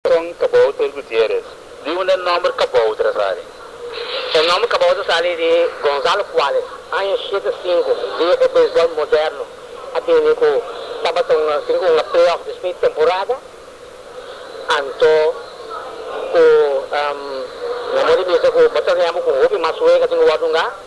Con Kabouter Gutierrez. Di unda e nomber Kabouter a sali? E nomber Kabouter a sali di Gonzalo Cuales, aña shete sinku, di e beisbol moderno a bini cu tabata un asin cu un a playoff despues di temporada, anto cu nan mor di bisa cu bo ta remba cu un hopi mas wega den wordunga.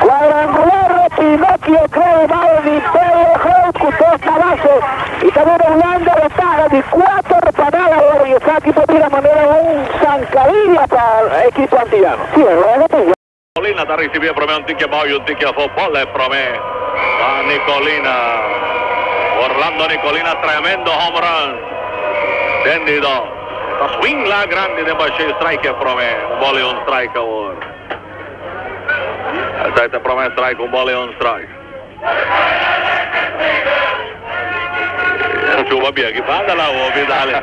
Cuadrangular na Pinocchio Creo Baal di Belo Groot cu dos na baso y ta duna Hulanda ventaha di cuater pa nada awor y esaki por bira manera un zancadilla pa ekipo antillano. Colina ta ricibi e prome un tiki abao y un tiki afo. Bola e prome pa Nicolina. Orlando Nicolina tremendo home run den di dos. Ta swing la grandi den bashey strike e prome un bola y un strike awor esai ta prome strike un bola y un strike ta chuba bien aki banda la hopi dale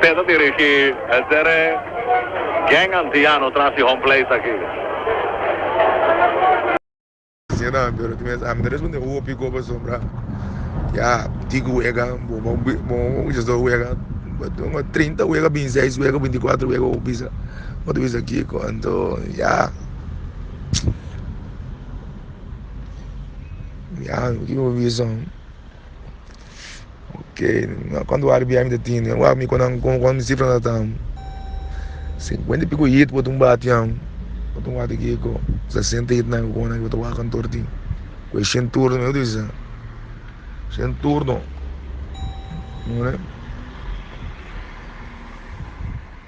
Pesa tin riki esder e gang antiano tras di home place aki. Señor nan pero tin mes amne responde hopi goba sombra ya tic wega bo bo mucha so wega bo trinta wega bin seis wega binti cuatro wega bo bisa bo ta bisa kico anto ya ya kico bo bisa. Oke cuanto wari biaha mi ta tine wak mi cunan como cuanto mi cifra nan ta tan cincuenta y pico hit bo tin batian bo tin wak kiko sesenta hit nan bo ta wakan torti cu e shen turno mi ta bisa shen turno.